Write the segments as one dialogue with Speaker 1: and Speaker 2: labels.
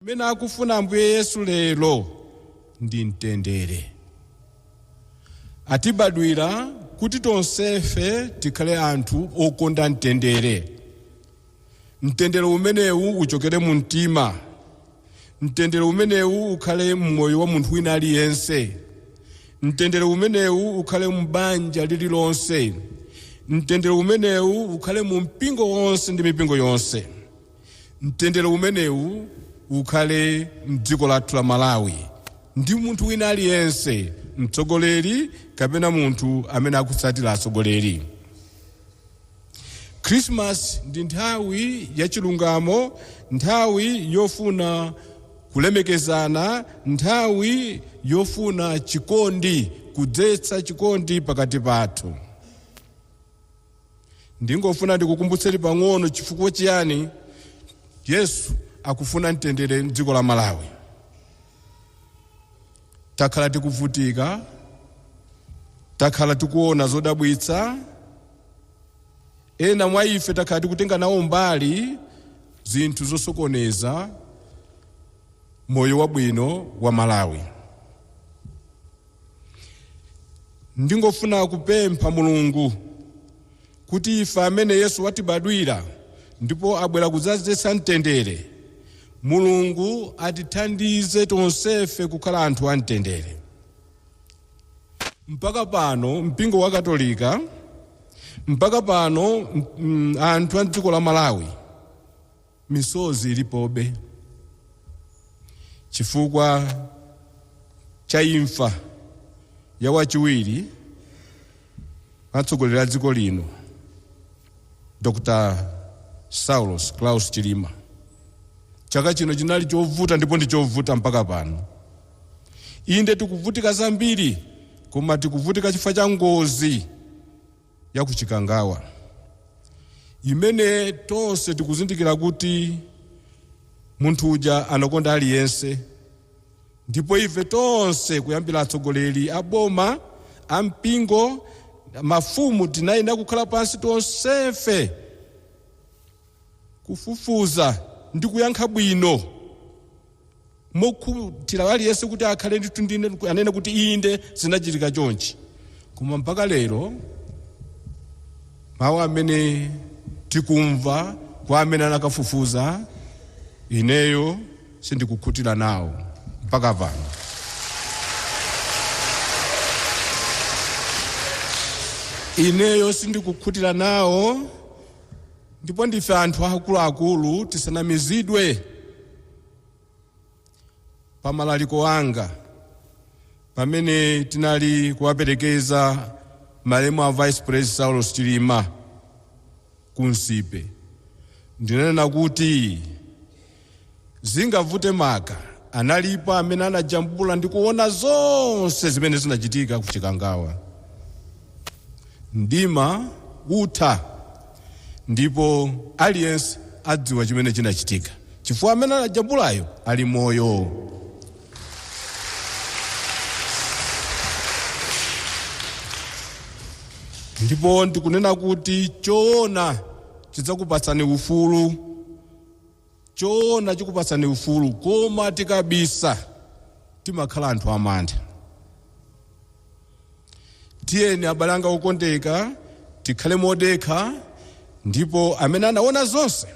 Speaker 1: Chimene akufuna Ambuye Yesu lero ndi mtendere. Atibadwira kuti tonsefe tikhale anthu okonda mtendere. Mtendere umenewu uchokere mu mtima. Mtendere umenewu ukhale m'moyo wa munthu wina aliyense. Mtendere umenewu ukhale m'banja lililonse. Mtendere umenewu ukhale mu mpingo wonse ndi mipingo yonse. Mtendere umenewu ukhale mdziko lathu la Malawi ndi munthu wina aliyense mtsogoleri kapena munthu amene akutsatira atsogoleri. Christmas ndi nthawi ya chilungamo, nthawi yofuna kulemekezana, nthawi yofuna chikondi, kudzetsa chikondi pakati pathu. Ndingofuna ndikukumbutseni pang'ono chifukwa chiyani Yesu akufuna mtendere m'dziko la Malawi. Takhala tikuvutika, takhala tikuona zodabwitsa, ena mwa ife takhala tikutenga nawo mbali zinthu zosokoneza moyo wabwino wa Malawi. Ndingofuna kupempha Mulungu kuti ife amene Yesu watibadwira ndipo abwera kudzadzetsa mtendere, Mulungu atithandize tonsefe kukhala anthu amtendere. Mpaka pano mpingo wa Katolika, mpaka pano mm, anthu a mdziko la Malawi Misozi ilipobe chifukwa cha imfa ya wachiwiri atsogoleri a dziko lino Dr. Saulos Klaus Chilima. Chaka chino chinali chovuta ndipo ndi chovuta mpaka pano. Inde tikuvutika zambiri koma tikuvutika chifukwa cha ngozi ya ku Chikangawa imene tonse tikuzindikira kuti munthu uja anakonda aliyense ndipo ife tonse kuyambira atsogoleri a boma a mpingo mafumu tinayenera kukhala pansi tonsefe kufufuza ndi kuyankha bwino mokhutira aliyense kuti akhale ndithu anene kuti inde zinachitika chonchi koma mpaka lero mawu amene tikumva kwa amene anakafufuza ineyo sindikukhutira nawo mpaka pano ineyo sindikukhutira nawo Ndipo ndife anthu akuluakulu tisanamizidwe pa malaliko anga pamene tinali kuwaperekeza malemu a vice pres Saulos Chilima ku Nsipe ndinanena kuti Zingavute maka analipo amene anajambula ndi kuona zonse zimene zinachitika ku Chikangawa. Mdima utha ndipo aliyense adziwa chimene chinachitika chifukwa amene anajambulayo ali moyo. Ndipo ndikunena kuti choona chidzakupatsani ufulu. Choona chikupatsani ufulu koma tikabisa timakhala anthu amantha. Tiyeni abale anga okondeka tikhale modekha ndipo amene anaona zonse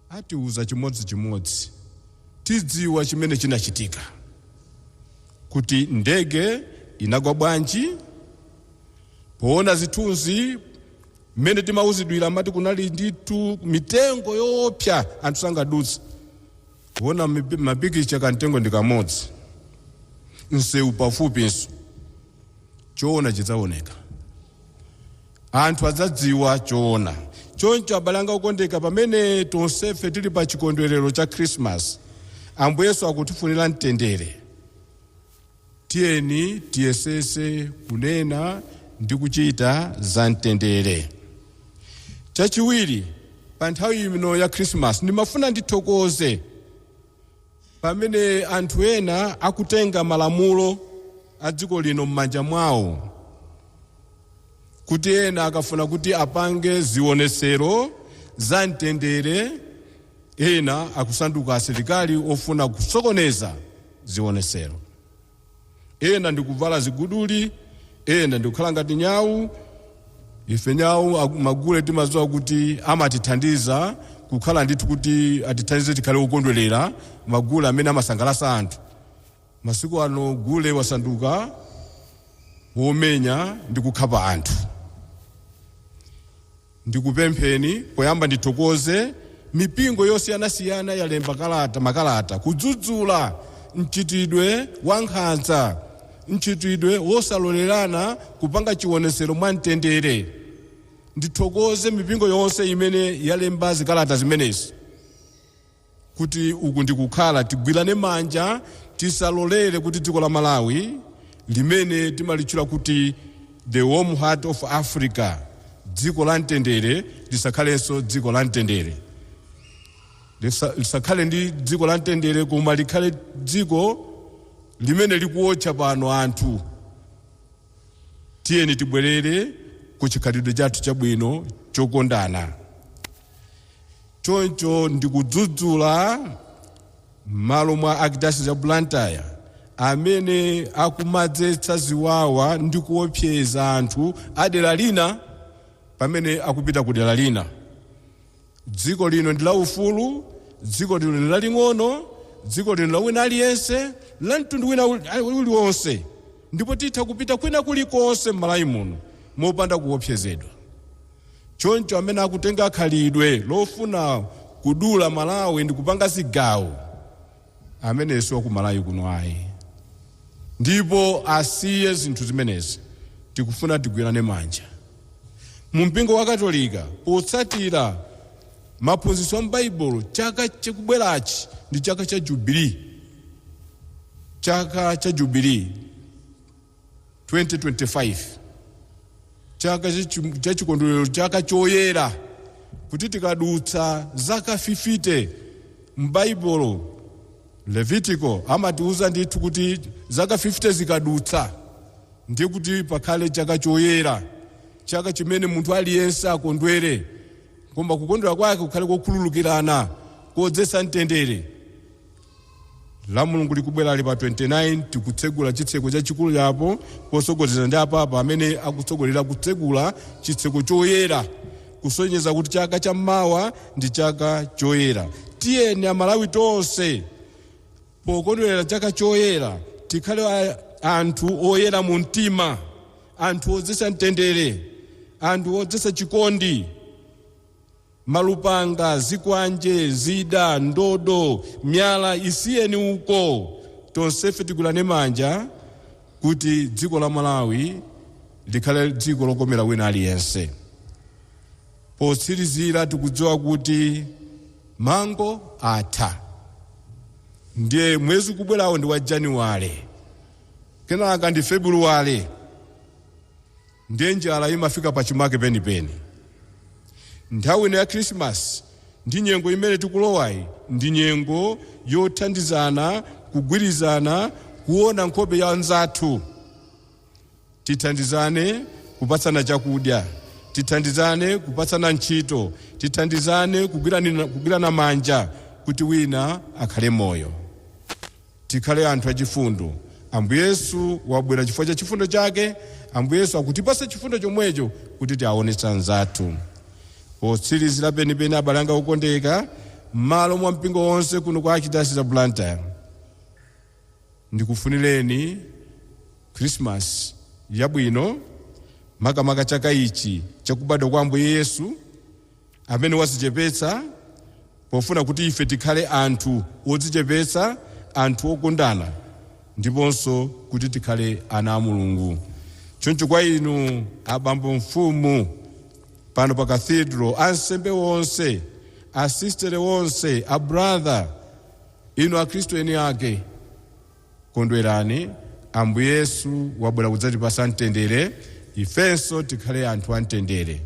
Speaker 1: atiuza chimodzi chimodzi tidziwa chimene chinachitika kuti ndege inagwa bwanji, poona zithunzi Mmene timauzidwira amati kunali ndithu mitengo yoopsa anthu sangadutse. Poona mapikicha kamtengo ndi kamodzi, msewu pafupinso. Choona chidzaoneka. Anthu adzadziwa choona. Choncho abale anga okondeka, pamene tonsefe tili pa chikondwerero cha Khirisimasi, Ambuye Yesu akutifunira mtendere. Tiyeni tiyesetse kunena ndi kuchita za mtendere. Chachiwiri, pa nthawi ino ya Khrisimasi ndimafuna ndithokoze pamene anthu ena akutenga malamulo a dziko lino m'manja mwawo kuti ena akafuna kuti apange zionetsero za mtendere ena akusanduka asilikali ofuna kusokoneza zionetsero. Ena ndi kuvala ziguduli, ena ndi kukhala ngati nyau. Ife nyau magule timadziwa kuti amatithandiza kukhala ndithu kuti atithandize tikhale wokondwerera magule amene amasangalatsa anthu. Masiku ano gule wasanduka womenya ndi kukhapa anthu. Ndikupempheni poyamba ndithokoze mipingo yosiyanasiyana yalemba kalata, makalata kudzudzula mchitidwe wa nkhanza, mchitidwe wosalolerana kupanga chiwonetsero mwa mtendere. Ndithokoze mipingo yonse imene yalemba zikalata zimenezi. kuti uku ndi kukhala tigwirane manja tisalolere kuti dziko la Malawi limene timalitchula kuti the warm heart of Africa dziko la mtendere lisakhalenso dziko la mtendere Lisa- lisakhale ndi dziko la mtendere koma likhale dziko limene likuotcha pano anthu tiyeni tibwerere ku chikhalidwe chathu chabwino chokondana Choncho ndikudzudzula m'malo mwa Archdiocese ya Blantyre amene akumadzetsa ziwawa ndi kuopseza anthu a dera lina pamene akupita ku dera lina. Dziko lino ndi la ufulu, dziko lino ndi laling'ono, dziko lino la wina aliyense, la mtundu wina uli- uliwonse ndipo titha kupita kwina kulikonse m'Malawi muno mopanda kuopsezedwa. Choncho amene akutenga khalidwe lofuna kudula Malawi ndi kupanga zigawo ameneyo si wa ku Malawi kuno ayi ndipo asiye zinthu zimenezi tikufuna tigwirane manja mu mpingo wa Katolika potsatira maphunzitso a m'Baibulo chaka chikubwerachi ndi chaka cha jubilee chaka cha jubilee. 2025 chaka chachi- cha chikondwerero chaka choyera kuti tikadutsa zaka 50 m'Baibulo Levitiko amatiuza ndithu kuti zaka 50 zikadutsa ndiye kuti pakhale chaka choyera chaka chimene munthu aliyense akondwere koma kukondwera kwake kukhale kokhululukirana kodzetsa mtendere Lamulungu likubwerali pa 29 tikutsegula chitseko chachikulu cha apo potsogozedwa ndi apapa amene akutsogolera kutsegula chitseko choyera kusonyeza kuti chaka cha mawa ndi chaka choyera. Tiyeni Amalawi tonse pokondwerera chaka choyera tikhale anthu oyera mu mtima, anthu odzetsa mtendere, anthu odzetsa chikondi. Malupanga, zikwanje, zida, ndodo, miyala isiyeni uko. Tonsefe tigwirane manja kuti dziko la Malawi likhale dziko lokomera wina aliyense. Potsirizira tikudziwa kuti mango atha. Ndiye mwezi ukubwerawo ndi wa Januwale, kenaka ndi Febuluwale. Ndiye njala imafika pachimake penipeni. Nthawi ino ya Khirisimasi ndi nyengo imene tikulowayi ndi nyengo yothandizana, kugwirizana, kuona nkhope ya mnzathu. Tithandizane kupatsana chakudya, tithandizane kupatsana ntchito, tithandizane kugwirana manja kuti wina akhale moyo. Tikhale anthu achifundo. Ambuye Yesu wabwera chifukwa cha chifundo chake. Ambuye Yesu akutipatsa chifundo chomwecho kuti tiaonetse anzathu. Potsirizira penipeni abale anga okondeka, mmalo mwa mpingo wonse kuno kwa Archdiocese ya Blantyre, ndikufunireni Khrisimasi yabwino, makamaka chaka ichi chakubadwa kwa Ambuye Yesu. amene wadzichepetsa pofuna kuti ife tikhale anthu odzichepetsa, anthu okondana ndiponso kuti tikhale ana a Mulungu. Choncho kwa inu abambo mfumu pano pa Cathedral, ansembe onse, asisitere onse, abratha, inu Akhristu eni ake, Kondwerani, Ambuye Yesu wabwera kudzatipatsa mtendere, ifenso tikhale anthu a mtendere.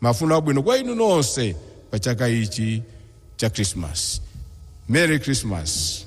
Speaker 1: Mafuno abwino kwa inu nonse pa chaka ichi cha Khrisimasi. Merry Christmas!